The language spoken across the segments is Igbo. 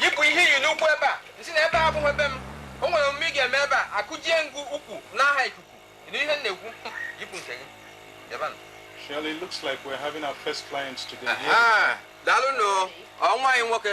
yipụ ihe i yi n'ụkwụ ebe a nsị na ebe a abụghị ebe m o nwere omume ị ga-eme ebe a akụjie m gị ụkwụ n'aha ikuku ị nụ ihe m na-ekwu yipụ nke gị ebe a nọ. Shirley, looks like we're having our first client today. Aha, daalụ nnọọ nwa anyị nwoke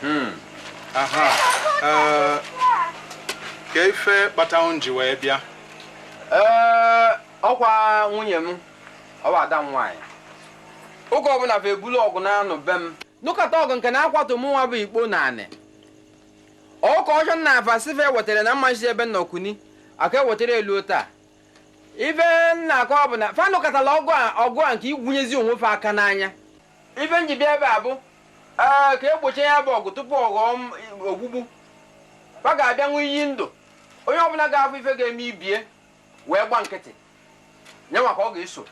Hmm. aha eh, kee ife kpata unu ji wee bịa ee ọkwa nwunye m ọ bụ ada m nwaanyị oge ọbụla fa ebulu ọgụ na-anụ be m nụkọta ọgụ nke na-akwatu mụnwa bụ ikpo n'anị ọka ọjọ na avasive wetara na mmachi ebe nna okuni aka ewetara elu taa ife m na-akọ bụ na fa anụkọtala ọgụ a ọgụ a nke igwunyezi onwe fa aka n'anya Ife m ji bịa ebe a bụ ee ka e gbochie ya bụ ọgụ tupu ọ ghọọ ogbugbu. Fa ga-abịa ṅụọ iyi ndụ. Onye ọbụla ga-afụ ife ga-eme ibe ya wee gba nkịtị, nyanwa ka ọ ga-eso.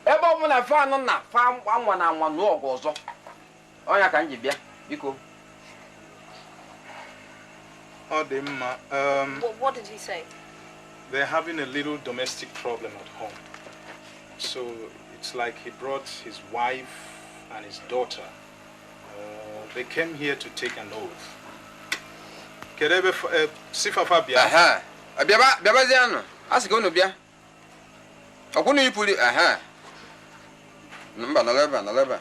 Ebe ọbụla fa nọ na fa anwana anwa nụọ ọgụ ọzọ. Ọ nya ka m ji bịa, biko. Ọ dị mma. Um, what, what did he say? They're having a little domestic problem at home. So it's like he brought his wife and his daughter. Uh, they came here to take an oath. Kedu ebe fa- eh, sị fa fa bịa? Aha. Ọ bịaba bịabazianụ. A sị ka unu bịa. Ọkwa unu yipụli. Aha. Mba nọrọ ebe a nọrọ ebe a.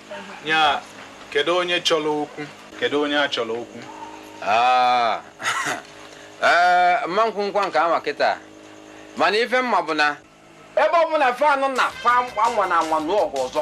ya kedu onye chọrọ okwu kedu onye a chọrọ okwu ah. eh, m ma ekwukwa nke a ma kịta mana ife m ma bụ na ebe ọ bụla fa nọ na fa anwana anwa nụọ ọgụ ọzọ